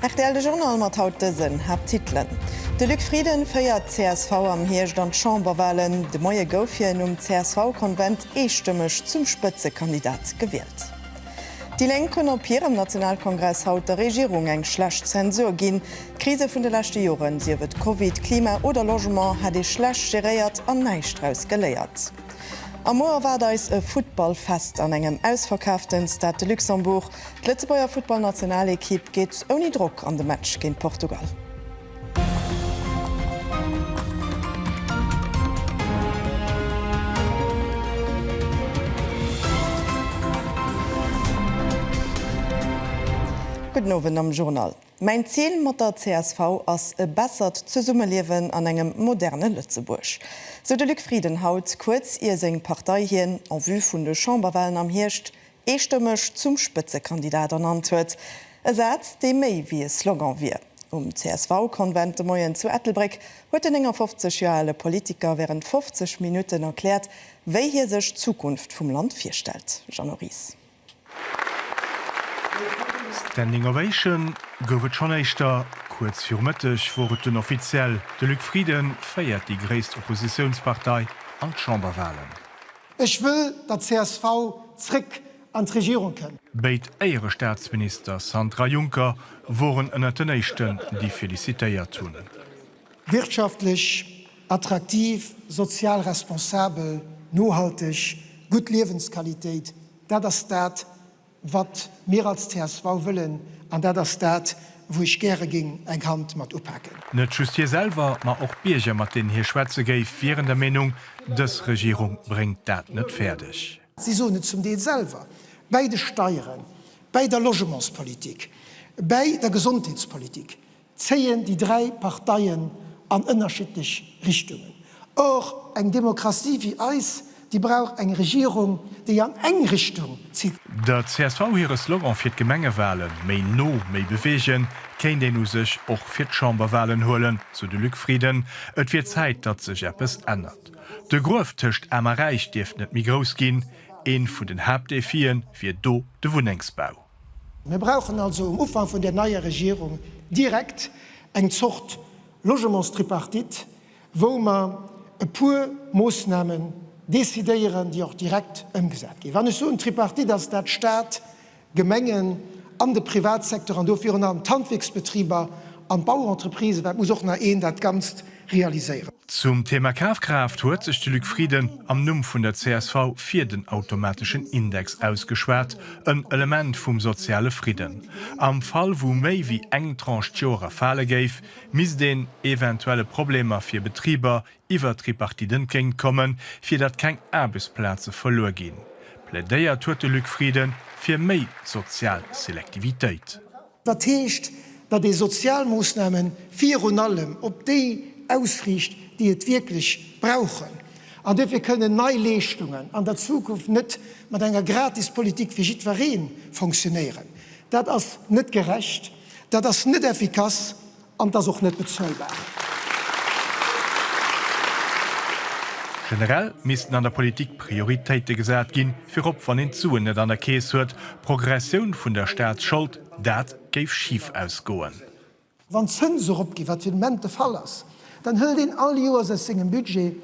Rtl, de Journal mat haut dësen Haapttitelen, De Luc Frieden féiert d'CSV am Hierscht an d'Chamberwalen, de Moie gouf hien um CSV-Konvent eestëmmeg zum Spëtzekandidat gewielt. Déi Lénk hunn op hirem Nationalkongress haut der Regierung eng schlecht Zensur ginn. D'Krise vun de leschte Joren, sief et Covid, Klima oder Logement, hätt ee schlecht geréiert an näischt draus geléiert. A muer erwaart eis e Futtballfest an engem ausverkaafte Stade de Luxembourg. D'Lëtzebuerger Futtballnationalekipp geet ouni Drock an de Match géint Portugal. Gudden Owend am Journal. Mäin Zil mat der csv ass e bessert Zesummeliewen an engem moderne Lëtzebuerg, sou de Luc Frieden haut, kuerz ier seng Partei hien en vue vun de Chamberwahlen am Hierscht eestëmmeg zum Spëtzekandidat ernannt huet, e Saz, dee méi wéi e Slogan wier. Um CSV-Konvent de Moien zu Ettelbréck huet den 59 Joer ale Politiker wärend 50 Minutten erkläert, wéi hie sech d'Zukunft vum Land virstellt. Jeannot Ries. Standing Ovation gouf et schonn éischter. Kuerz viru Mëtteg wor et dunn offiziell, de Luc Frieden féiert déi gréisst Oppositiounspartei an d'Chamberwalen. Ech wëll, datt d'CSV zréck an d'Regierung kënnt. Béid Éierestaatsminister Sandra Juncker woren ënnert den éischten, déi felicitéiert hunn. Wirtschaftlech attraktiv, sozial responsabel, nohalteg, gutt Liewensqualitéit, dat ass dat, Wat mir als csv wëllen, an dat ass dat, wou ech gäre géing eng Hand mat upaken. Net just hie selwer, ma och d'Bierger, mat deenen hie schwätze géif, wieren der Meenung, dës Regierung bréngt dat net fäerdeg. Si soen et zum Deel selwer, bäi de Steieren, bäi der Logementspolitik, bäi der Gesondheetspolitik. zéien déi dräi Parteien an ënnerschiddlech Richtungen. Och eng Demokratie wéi eis, déi brauch eng Regierung, déi an eng Richtung zitt. Der csv hire Slogan fir d'Gemengewalen, Méi no, méi beweegen, kéint een u sech och fir d'Chamberwalen huelen, sou de Luc Frieden. Et wier Zäit, datt sech eppes ännert. De Gruef tëscht Aarm a Räich dierft net méi grouss ginn. Ee vun den Haaptdefie wier do de Wunnengsbau. Mir brauchen also um Ufank vun där neier Regierung direkt eng Zort Logementstripartite, wou mer e puer Moosnamen decidéieren, déi och direkt ëmgesat ginn. Wann ech soen Tripartite, ass dat Stat, Gemengen an de Privatsecteur, an do virun allem d'Handwierksbetriber an d'Bauentreprisë, well et muss och nach een dat Ganzt realiséieren. Zum Thema Kafkraaft huet sech de Luc Frieden am Numm vun der csv fir den automateschen Index ausgeschwat, en Element vum soziale Fridden. Am Fall wou méi wéi eng Tranche d'Joere fale géif, misst een eventuelle Problemer fir Betriber iwwer d'Tripartite entgéint kommen, fir datt keng Aarbechtsplaze verluer ginn. Plädéiert huet de Luc Frieden fir méi sozial Selektivitéit. Dat heescht, datt ee Sozialmoossname virun allem op déi ausriicht, déi et wierklech brauchen. An duerfir kënnen nei Leeschtungen an der Zukunft net mat enger Gratispolitik fir jiddweree fonctionnéieren. Dat ass net gerecht, dat ass net effikass An et ass och net bezuelbar. Generell missten an der Politik Prioritéite gesat ginn, virop wann een d'Suen net an der Keess huet. Progressioun vun der Staatsschold, dat géif schif ausgoen. Wann d'Zënse eropginn, wat fir den Moment de Fall ass, dann hëlt een all Joers aus sengem Budget,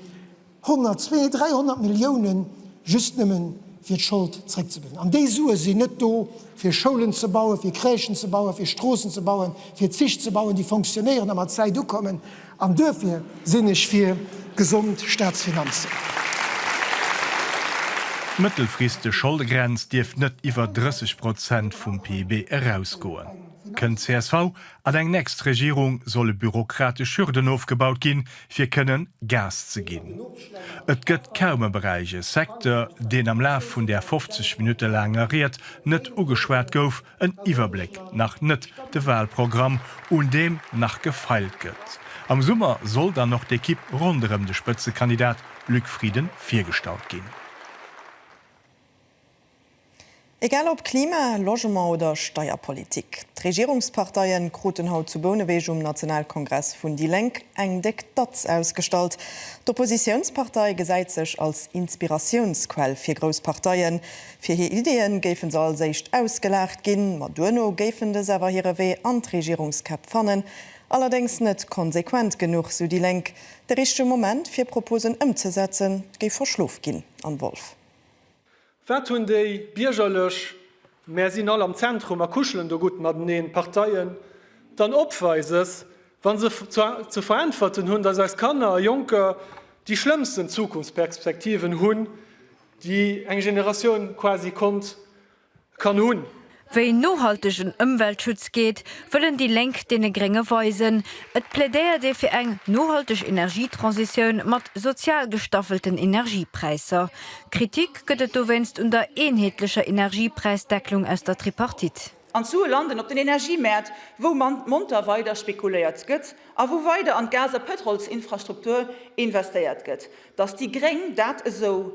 100, 200, 300 Milliounen just nëmmen, fir d'Schold zréckzebezéien. An déi Sue sinn net do, fir Schoulen ze bauen, fir Crèchen ze bauen, fir Stroossen ze bauen, fir Zich ze bauen, déi fonctionnéieren a mat Zäit ukommen. An duerfir sinn ech fir gesond Staatsfinanzen. D'mëttelfristeg Scholdegrenz dierf net iwwer 30 Prozent vum PIB erausgoen. Kënnt csv an eng nächst Regierung, solle bürokratesch Hürden ofgebaut ginn, fir kënnen Gas ze ginn. Et gëtt kaum e Beräich, e Secteur, deen am Laf vun där 50 Minutte laanger Ried net ugeschwat gouf, en Iwwerbléck nach net, de Wahlprogramm, un deem nach gefeilt gëtt. Am Summer soll dann och d'Ekipp ronderëm de Spëtzekandidat Luc Frieden virgestallt ginn. Egal ob Klima, Logement oder Steierpolitik, d'Regierungsparteie kruten haut zu Bouneweg um Nationalkongress vun déi Lénk eng déck Datz ausgestallt. D'Oppositiounspartei gesäit sech als Inspiratiounsquell fir grouss Parteie. Fir hir Ideeë géife se als éischt ausgelaacht ginn, ma duerno géifen dës awer hire Wee an d'Regierungskäpp fannen. Allerdéngs net konsequent genuch, sou déi Lénk. De richtege Moment fir Proposen ëmzesetzen géif verschlof ginn. Anne Wolff. Wat hunn déi biergerlech Mär sinn all am Zentrum a kuschelen do gutt mateneen Parteien dann Opweises, wa se ze veräntwerten hunn, datt eis Kanner a Jonker déi schlëmmsten Zukunftsperspektiven hunn, déi eng Generatioun quasi konnt kann hunn. Wéi nohaltegen Ëmweltschutz geet, wëllen déi Lénk deene Grénge weisen. Et plädéiert ee fir eng nohalteg Energietransitioun mat sozial gestaffelten Energiepräisser. Kritik gëtt et dowéinst un der eenheetlecher Energiepräisdecklung aus der Tripartite. An d'Sue landen op den Energiemäert, wou monter weider spekuléiert gëtt a wou weider an d'Gas a Pëtrolsinfrastruktur investéiert gëtt. Datt déi Gréng dat esou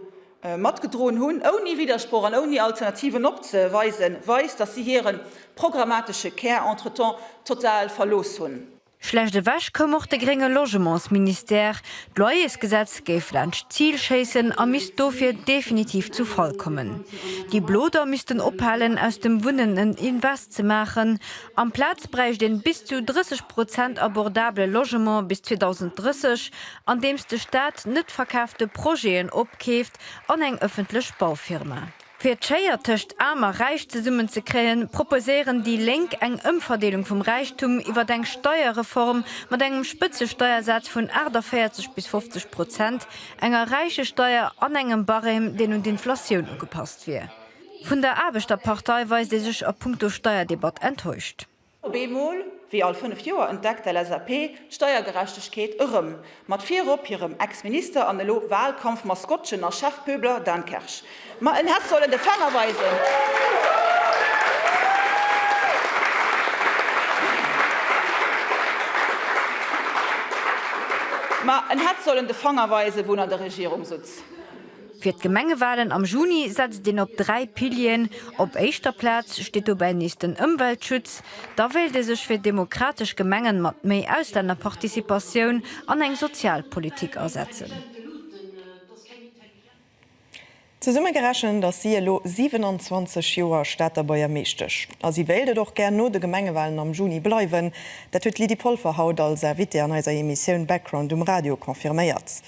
matgedroen hunn, ouni Widdersproch an ouni Alternativen opzeweisen, weist, datt si hire programmatesche Kär entretemps total verlooss hunn. Schlecht ewech koum och de grénge Logementsministère. D'Loyersgesetz géif laanscht d'Zil schéissen a misst dofir definitiv zu Fall kommen. Déi Blo da missten ophalen, aus dem Wunnen en Invest ze maachen. Amplaz bräicht een bis zu 30 Prozent abordabele Logement bis 2030. andeems de Staat net verkaafte Projeten opkeeft an eng ëffentlech Baufirma. Fir d'Schéier tëscht Aarm a Räich zesummen ze kréien, proposéieren déi Lénk eng Ëmverdeelung vum Räichtum iwwert eng Steierreform mat engem Spëtzesteiersaz vun 48 bis 50 Prozent, enger Räichesteier an engem Barème, deen un d'Inflatioun ugepasst wier. Vun der Aarbechterpartei weist ee sech a punkto Steierdebatt enttäuscht. Op eemol, wéi all fënnef Joer, entdeckt d'LSAP d'Steiergerechtegkeet erëm, mat virop hirem Ex-Minister an elo Wahlkampf-Maskottchen a Chefpöbler Dan Kersch. Ma en hätt sollen de Fänger weisen. Ma en hätt sollen de Fanger weisen, wou en an der Regierung sutz. Fir d'Gemengewalen am Juni setzt een op dräi Pilieren. Op éischter Plaz steet dobäi nees den Ëmweltschutz. Da wéilt ee sech fir demokratesch Gemengen mat méi Auslännerparticipatioun an eng sozial Politik asetzen. Zesummegerechent ass si elo 27 Joer Stater Buergermeeschtesch a si wéilt et och gär no de Gemengewalen am Juni bleiwen. Dat huet d'Lydie Polfer haut als Invitée an eiser Emissioun Background um Radio confirméiert.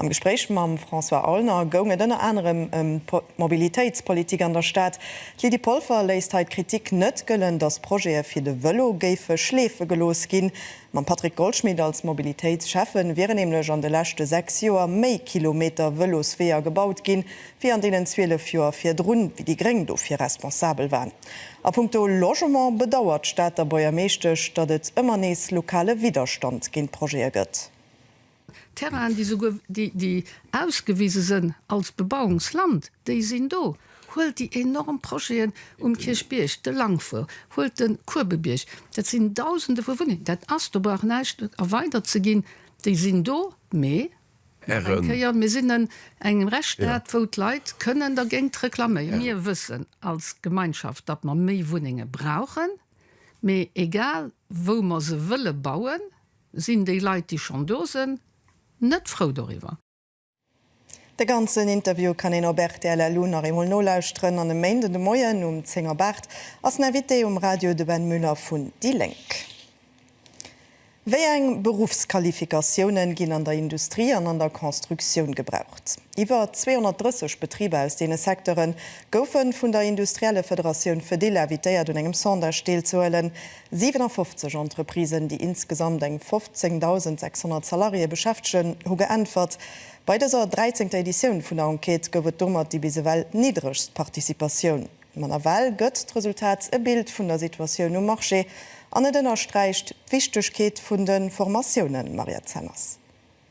Am Gespréich mam François Aulner goung et ënner anerem ëm d'Mobilitéitspolitik an der Stad. D'Lydie Polfer léisst hei d'Kritik net gëllen, datt Projete fir de Vëlo géife schleefe gelooss ginn. Mam Patrick Goldschmidt als Mobilitéitsschäffe wieren nämlech an de leschte 6 Joer méi Kilometer Vëlosweeër gebaut ginn, wéi an deenen 12 Joer virdrun, wéi déi Gréng dofir responsabel waren. A punkto Logement bedauert d'Stater Buergermeeschtesch, datt et ëmmer nees lokale Widderstand géint d'Projete gëtt. Terrainen, déi souguer déi ausgewise sënn als Bebauungsland, déi sinn do. Huelt déi enorm Projeten um Kierchbierg, de Langfour, huelt de Kuebebierg, dat sinn Dausende vu Wunnengen, dat ass, do brauch näischt erweidert ze ginn, déi sinn do, mee nach eng Kéier, mir sinn en engem Rechtsstaat, wou d'Leit kënnen dergéint reklaméieren. Mir wëssen als Gemeinschaft, datt mer méi Wunnenge brauchen, mee egal wou mer se wëlle bauen, Sinn déi Leit, déi schonn do sënn, net frou doriwwer? De ganzen Interview kann een op rtl-lu nach eemol nolauschteren an e Méinden de Moien um 10 op 8 ass den Invité um Radio de Ben Müller vun déi Lénk. Wéi eng Beruffsqualifikatiounen ginn an der Industrie an an der Constructioun gebraucht? Iwwer 230 Betriber aus deene Secteure goufe vun der industrielle Federatioun Fedil invitéiert un engem Sondage deelzehuelen. 57 Entreprisen, déi insgesamt eng 15.600 Salariéë beschäftegen, hu geäntwert. Bei dëser dräizéngter Editioun vun der Enquête gouf et domat déi bis ewell niddregst Participatioun. Ma nawell gëtt d'Resultat e Bild vun der Situatioun um Marché an et ënnersträicht d'Wichtegkeet vun de Formatiounen, Mariette Zenners.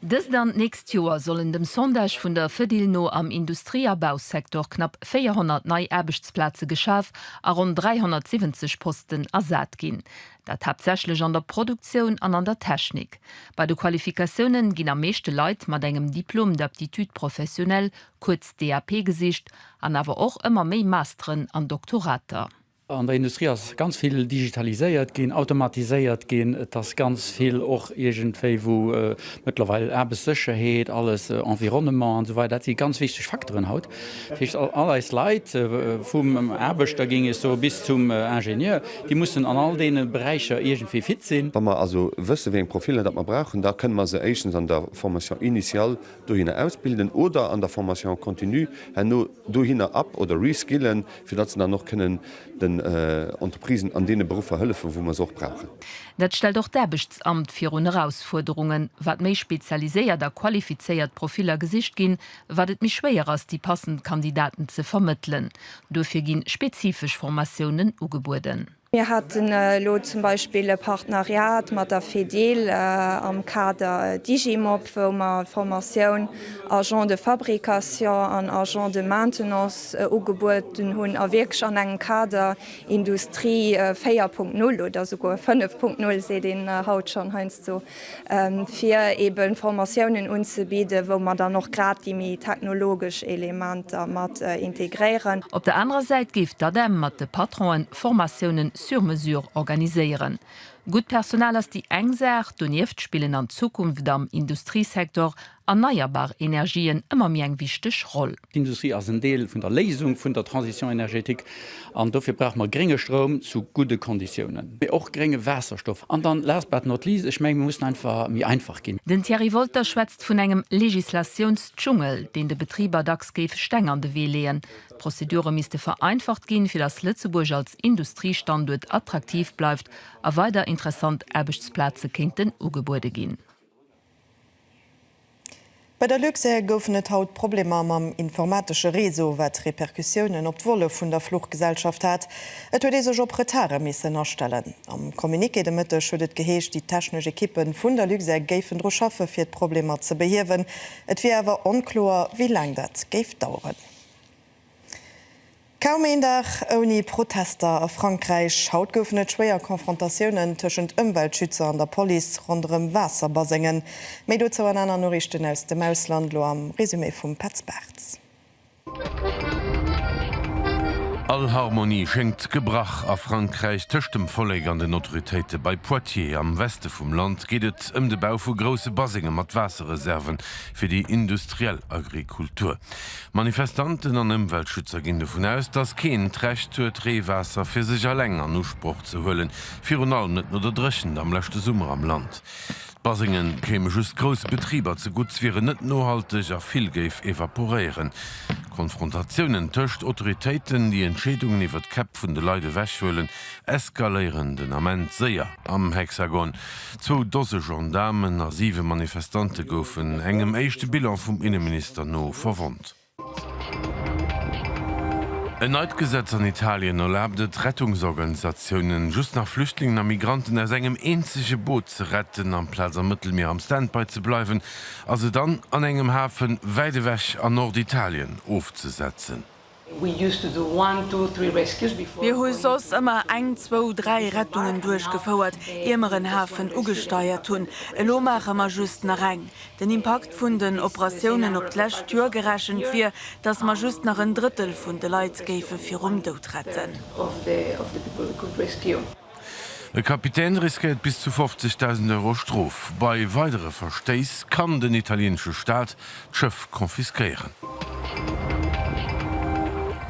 Dëst an d'nächst Joer sollen dem Sondage vun der Fedil no am Industrie a Bausecteur knapp 400 nei Aarbechtsplaze geschaf a ronn 370 Posten ersat ginn. Dat haaptsächlech an der Produktioun an an der Technik. Bei de Qualifikatioune ginn am meeschte Leit mat engem Diplôme d'aptitude professionnelle, kuerz DAP, gesicht an awer och ëmmer méi Masteren an Doktorater. An der Industrie ass ganz vill digitaliséiert ginn, automatiséiert ginn. Et ass ganz vill och iergendwéi wou mëttlerweil Aarbechtssécherheet, alles, Environnement an esou weider, dat si ganz wichteg Facteuren haut. Dat heescht, all eis Leit, vum Aarbechter géing ech soe bis zum Ingenieur, déi mussen an all deene Beräicher iergendwéi fit sinn. Wa mer also wësse wéi eng Profiller dat mer brauchen, da kënne mer se éischtens an der Formation initiale dohinner ausbilden oder an der Formation continue herno. dohinner up oder reskillen, fir datt se dann och kënnen den Entreprisen an deene Beruffer hëllefen, wou mer se och brauchen. Dat stellt och d'Aarbechtsamt virun Erausfuerderungen. Wat méi spezialiséiert a qualifizéiert Profiller gesicht ginn, wat et méi schwéier ass, déi passend Kandidaten ze vermëttelen. Duerfir gi spezifesch Formatiounen ugebueden. Mir haten elo zum Beispill e Partenariat mat der Fedil am Kader Digimop, wou mer d'Formatioun Agent de fabrication an Agent de maintenance ugebueden hunn a wierklech an engem Kader Industrie 4.0 oder souguer 5.0, seet een haut schonn heiansdo, fir eben Formatiounen unzebidden, wou mer dann och grad déi méi technologesch Elementer mat integréieren. Op der anerer Säit géif d'ADEM mat de Patronen Formatiounen sur mesure organiséieren. Gutt Personal ass déi eng Saach, donieft spillen an Zukunft am Industriesektor erneierbar Energien ëmmer méi eng wichteg Roll. D'Industrie ass en Deel vun der Léisung vun der Transition énergétique an dofir brauche mer grénge Stroum zu gudde Konditiounen, mee och grénge Waasserstoff. An dann, last but not least, ech menge mir mussen einfach méi einfach ginn. Den Thierry Wolter schwätzt vun engem Legislatiounsdschungel, deen de Betriber dacks géif Steng an de Wee leeën. D'Prozedure misste vereinfacht ginn, fir datt Lëtzebuerg als Industriestanduert attraktiv bleift a weider interessant Aarbechtsplaze kéinten ugebuede ginn. Bei der Luxair goufen et haut Problemer mam informatesche Réseau, wat Repercussiounen op d'Volle vun der Fluchgesellschaft hat. Et huet ee sech op Retarde missen astellen. Am Communiqué de Mëtteg huet et geheescht, déi technesch Ekippe vun der Luxair géifen dru schaffe fir d'Problemer ze behiewen. Et wier awer onkloer, wéi laang dat géif daueren. Kaum een Dag ouni Protester a Frankräich. Haut goufen et schwéier Confrontatiounen tëschent Ëmweltschützer an der Police ronderëm Waasserbasengen. Méi dozou an aner Noriichten aus dem Ausland, lo am Resumé vum Petz Bartz. All Harmonie schéngt gebrach a Frankräich. Tëscht dem Vollek an den Autoritéite bei Poitiers am Weste vum Land geet et ëm de Bau vu grousse Basenge mat Waasserreserven fir déi industriell Agrikultur. Manifestanten an Ëmweltschützer ginn dovun aus, datt keen d'Recht huet, Reewaasser fir sech alleng an Usproch ze huelen, virun allem net no der Dréchent am leschte Summer am Land. D'Basenge kéime just grousse Betriber zegutt, wieren net nohalteg a vill géif evaporéieren. Konfrontatiounen tëscht Autoritéiten, déi Entscheedungen iwwer d'Käpp vun de Leit ewechhuelen, eskaléieren den Ament séier am Hexagon. Zwou Dose Gendaarmen a siwe Manifestante goufen, engem éischte Bilan vum Inneminister no, verwonnt. En neit Gesetz an Italien erlaabt et Rettungsorganisatiounen, just nach Flüchtlingen a Migranten aus engem eenzege Boot ze retten. Amplaz am Mëttelmier am Standby ze bleiwen a se dann an engem Hafen wäit ewech an Norditalien ofzesetzen. Mir hu soss ëmmer eng, zwou, dräi Rettungen duerchgefouert, ier mer en Hafen ugesteiert hunn. Elo maache mer just nach eng. Den Impakt vun den Operatiounen op d'lescht Joer gerechent wier, datt mer just nach en Drëttel vun de Leit géife virum Doud retten. E Kapitän riskéiert bis zu 50.000 Euro Strof. Bei weidere Verstéiss kann den italieenesche Staat d'Schëff confisquéieren.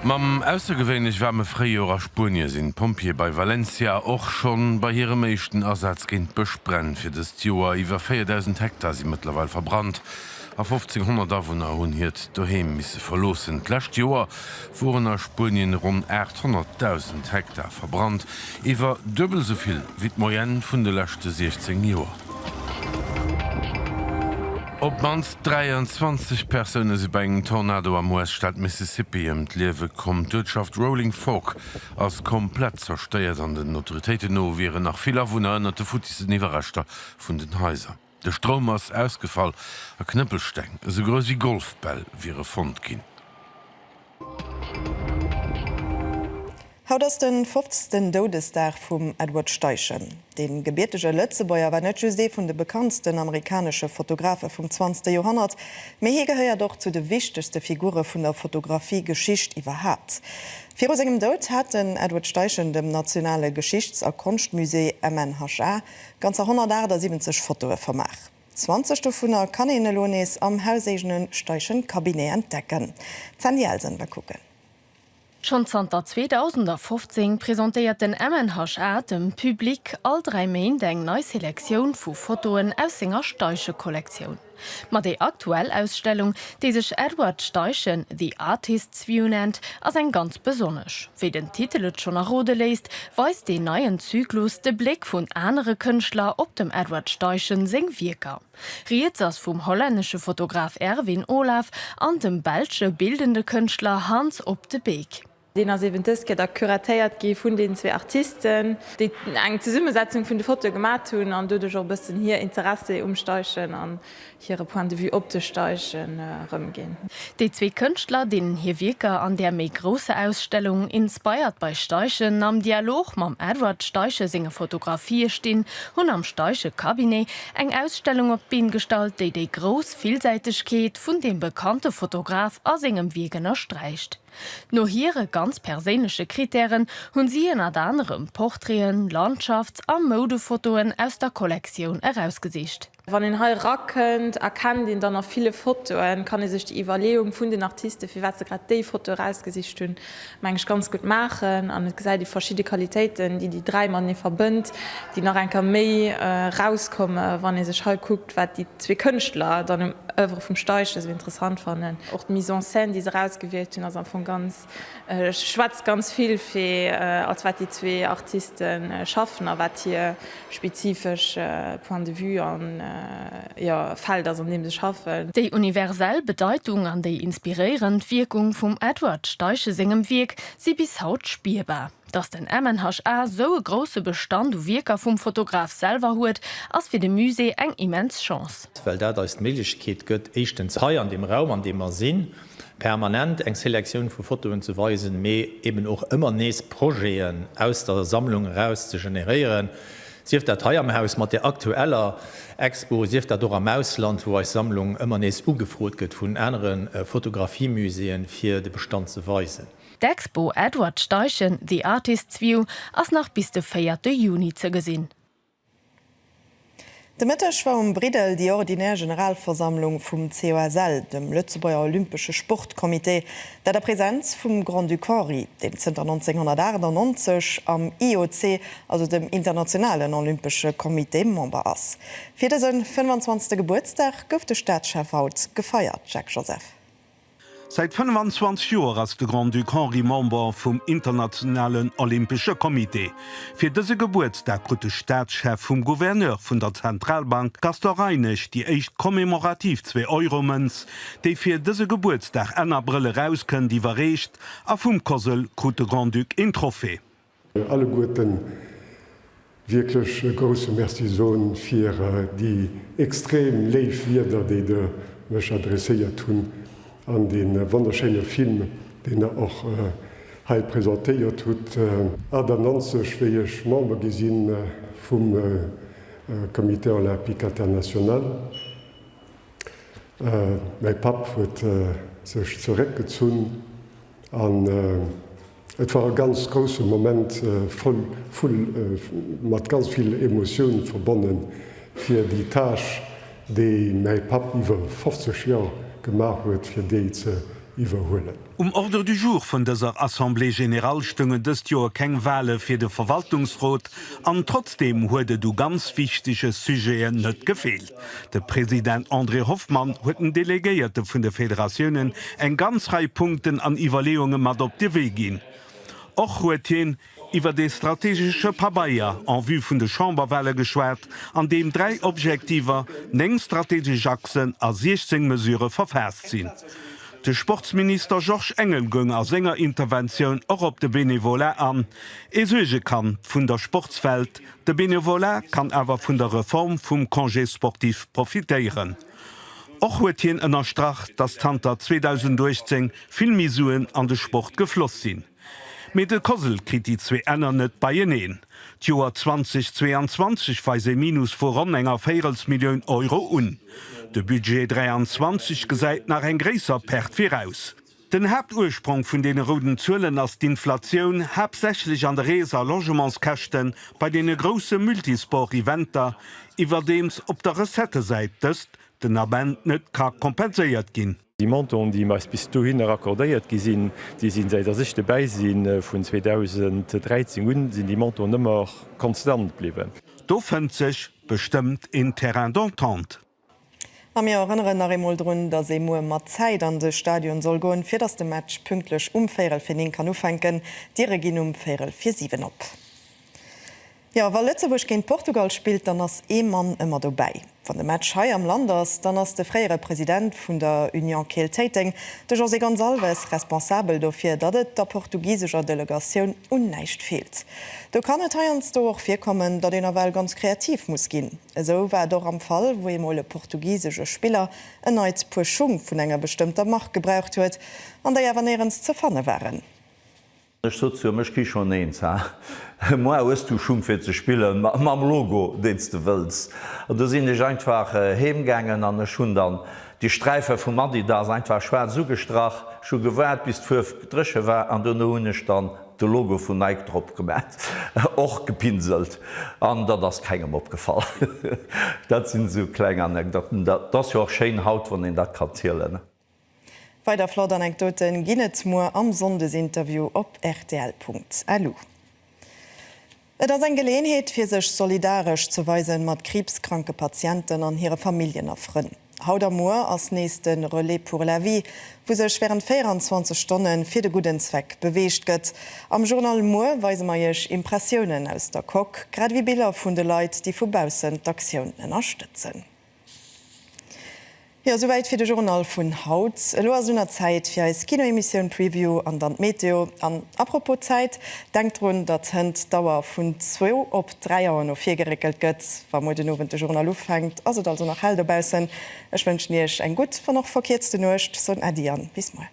Mam aussergewéinlech waarme Fréijoer a Spuenie sinn d'Pompjeeë bei Valencia och schonn bei hirem éischten Asaz géint Bëschbränn. Fir dëst Joer iwwer 4.000 Hektar si mëttlerweil verbrannt. a 1500 Awunner hunn hiert Doheem misse verloossen. D'lescht Joer woren a Spuenien ronn 800.000 Hektar verbrannt, iwwer duebel esou vill wéi d'Moyenne vun de leschte 16 Joer. Op d'mannst 23 Persoune si bei engem Tornado am US-Staat Mississippi ëm d'Liewe komm. D'Uertschaft Rolling Fork ass komplett zerstéiert an den Autoritéiten no wieren nach vill Awunner ënnert de futtissen Iwwerreschter vun den Haiser. De Stroum ass ausgefall a Knëppelsteng, esou grouss wéi Golfbäll, wiere fonnt ginn. Haut ass den fofzten Doudesdag vum Edward Steichen. Dee gebiertege Lëtzebuerger war net just ee vun de bekanntsten amerikanesche Fotografe vum zwanzegste Joerhonnert, mee hie gehéiert och zu de wichtegste Figure vun der Fotografie-Geschicht iwwerhaapt. Viru sengem Doud hat den Edward Steichen dem nationale Geschichts a Konschtmusée, MNHA, Ganzer 178 Fotoe vermaach. 20 dovunner kann een elo nees am hauséigene Steichen Cabinet entdecken. D'Sandy Elsen war kucken. Schonn zanter 2015 presentéiert den MNHA dem Public all dräi Méint eng nei Selektioun vu Fotoen aus senger Steichekollektioun. Ma déi aktuell Ausstellung, déi sech Edward Steichen, The Artist's View nennt, ass eng ganz besonnesch. Wéi den Titel et schonn errode léisst, weist deen neien Zyklus de Bléck vun anere Kënschtler op dem Edward Steichen seng Wierker. Rieds ass vum hollännesche Fotograf Erwin Olaf an dem belsche bildende Kënschtler Hans Op de Beek. Deen ass eben dëst Kéier da curatéiert gi vun deenen zwee Artisten, déi eng Zesummesetzung vun de Fotoe gemat hunn an doduerch och e bëssen hir Interessi um Steichen an hire Point de vue op de Steichen erëmginn. Déi zwee Kënschtler, deenen hir Wierker an där méi grousser Ausstellung Inspired by Steichen am Dialog mam Edward Steichen senge Fotografië stinn, hunn am Steichen Cabinet eng Ausstellung op d'Been gestallt, déi déi grouss Villsäitegkeet vun deem bekannte Fotograf a sengem Wierk ënnersträicht. No hire ganz perséinleche Krittären hunn si ënnert anerem Portraiten, Landschafts a Moudefotoen aus der Kollektioun erausgesicht. Wann een hei erakënnt, erkennt een dann a ville Fotoen, kann ee sech déi Iwwerleeung vun den Artisten, firwat se grad déi Foto erausgesicht hunn, meng ech, ganz gutt maachen. An et gesäit ee verschidde Qualitéiten, déi déi dräi matenee verbënnt, déi nach eng Kéier méi erauskommen, wann ee sech hei kuckt. Wat déi zwee Kënschtler dann um Oeuvre vum Steichen esou interessant fannen, och d'Mise en scène, déi se erausgewielt hunn, ass am Fong ganz, schwätzt ganz vill fir als wat déi zwee Artiste schaffen a wat hir spezifesch Point de vue an, jo, Feld ass, an deem se schaffen. Déi universell Bedeitung an déi inspiréierend Wierkung vum Edward Steichen sengem Wierk si bis haut spierbar. Datt den MNHA sou e grousse Bestand u Wierker vum Fotograf selwer huet, ass fir de Musée eng immens Chance. Well dat eis d'Méiglechkeet gëtt, éischtens hei an deem Raum, an deem mer sinn, permanent eng Selektioun vu Fotoen ze weisen, mee eben och ëmmer nees Projeten aus der Sammlung eraus ze generéieren, sief dat hei am Haus mat där aktueller Expo, sief dat och am Ausland, wou eis Sammlung ëmmer nees ugefrot gëtt vun anere Fotografiemuséeën, fir de Bestand ze weisen. D'Expo Edward Steichen, The Artist's View ass nach bis de 4 de Juni ze gesinn. De Mëtteg war um Briddel déi ordinär Generalversammlung vum COSL, dem Lëtzebuerger Olympesche Sportcomité, dat a Präsenz vum Grand-Duc Henri, deen zënter 1998 am IOC, also dem Internationalen Olympesche Comité, Member ass. Fir dëse 25. Gebuertsdag gouf de Staatschef haut gefeiert, Jacques Joseph. Säit 25 Joer ass de Grand-Duc Henri Member vum Internationalen Olympesche Comité. Fir dëse Gebuertsdag krut de Staatschef vum Gouverneur vun der Zentralbank Gaston Reinesch déi éischt commemorativ Zwee-Euro-Mënz, déi fir dëse Gebuertsdag Enn Abrëll erauskënnt, iwwerreecht a vum COSL krut de Grand-Duc een Trophée. alleguerten wierklech e grousse Merci soen fir déi extrem léif Wieder, déi Der mech adresséiert hunn an dee wonnerschéine Film, deen Der och hei presentéiert hutt. 98, wéi ech Member gi si vum Comité Olympique International. Mäi Papp huet sech zeréckgezunn an. Et war e ganz grousse Moment, voll vu mat ganz vill Emotioun verbonnen, fir déi Tâche, déi mäi Papp iwwer 50 Joer gemaach huet, fir déi ze iwwerhuelen. Um Ordre du jour vun dëser Assemblée générale stoungen dëst Joer keng Wahle fir de Verwaltungsrot an trotzdeem huet et u ganz wichtege Sujeten net gefeelt. De President André Hoffmann huet den Delegéierte vun de Federatiounen eng ganz Rei Punkten an Iwwerleeunge mat op de Wee ginn. Och huet hien iwwer ee strategesche Pabeier en vue vun de Chamberwahle geschwat, an deem dräi Objektiver, néng strategesch Achsen a 16 Mesurë verfaasst sinn. De Sportsminister Georges Engel goung a senger Interventioun och op de Bénévolat an, ee Suergekand vun der Sportswelt, De Bénévolat kann awer vun der Reform vum Congé sportif profitéieren. Och huet hien ënnerstrach, datt zanter 2018 vill méi Suen an de Sport gefloss sinn. Mee de COSL kritt déi zwee Enner net beieneen. D'Joer 2022 weist ee Minus vu ronn enger Véirelsmillioun Euro un. De Budget 23 gesäit nach eng gréisser Perte viraus. Den Haaptursprong vun deene rouden Zuelen ass d'Inflatioun, haaptsächlech an de Rees a Logementskäschten bei deene grousse Multisport-Eventer, iwwerdeems op der Recettesäit dëst den Ament net ka kompenséiert ginn. Déi Montanten, déi eis bis dohinner accordéiert gi sinn, déi sinn, säit dass ech dobäi sinn, vun 2013 un, sinn déi Montanten ëmmer konstant bliwwen. Do fënnt sech bestëmmt een Terrain d'entente. A mir erënneren nach eemol drun, dass ee muer mat Zäit an de Stadion soll goen, fir dass de Match pünktlech um Véierel fir neen kann ufänken. D'Diere ginn um Véierel fir siwen op. Jo, wa Lëtzebuerg géint Portugal spillt, dann ass ee Mann ëmmer dobäi. Wann de Match hei am Land ass, dann ass de fréiere President vun der Union Keel Téiteng, de José Gonçalves, responsabel dofir, datt et der portugisescher Delegatioun un näischt feelt. Do kann et heiansdo och virkommen, datt een ewell ganz kreativ muss ginn. Esou war et och am Fall, wou eemol e portugisesche Spiller en neit Puer Schung vun enger bestëmmter Mark gebraucht huet, an déi awer néierens ze fanne waren. Ech sot zu him, Ech kri schonn eens, ha? Moi, hues du Schung fir ze spillen mam Logo, deen s de wëlls? An du sinn ech einfach heem gaangen an ech hunn dann déi Sträife vum Adidas einfach schwaarz ugestrach. Ech hu gewaart, bis d'Fuerw dréche war an dono hunn ech dann De Logo vun Nike drop gemat, och gepinselt an dat ass kengem opgefall. Dat sinn esou kleng Anekdotten. Dat ass jo och schéin haut, wann een dat kann zielen. Weider flott Anekdote ginn et muer am Sonndesinterview op rtl.lu. Et ass eng Geleeënheet fir sech solidaresch ze weise mat kriibskranke Patienten an hire Familljen a Frënn. Haut a muer ass nees de Relais pour la vie, wou sech wärend 24 Stonne fir de gudden Zweck beweegt gëtt. Am Journal muer weise mer Iech Impressiounen aus der Coque, grad ewéi Biller vun de Leit, déi vu baussen d'Aktioun ënnerstëtzen. Jo, souwäit fir de Journal vun haut. Elo ass un der Zäit fir eis Kinoemissioun Preview an dann d'Meteo. An à propos Zäit, denkt drun, datt hënt d'Auer vun zwou op dräi Auer no vir geréckelt gëtt. Wa muer den Owend de Journal ufänkt, ass et also nach hell dobaussen. Ech wënschen Iech eng gutt, wann och verkierzte Nuecht, soen Äddi an bis muer.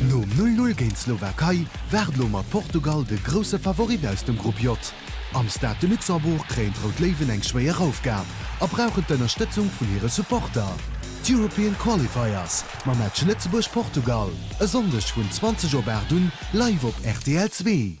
Nom 'Null Null' géint d'Slowakei waart elo mat Portugal de grousse Favorit aus dem Grupp J. Am Stade de Luxembourg kréien d'Rout Léiwen eng schwéier Aufgab a brauchen d'Ënnerstëtzung vun hire Supporter, d'European Qualifiers. Mam Match Lëtzebuerg, Portugal e Sonndeg vun 20 op 8 un live op rtl Zwee.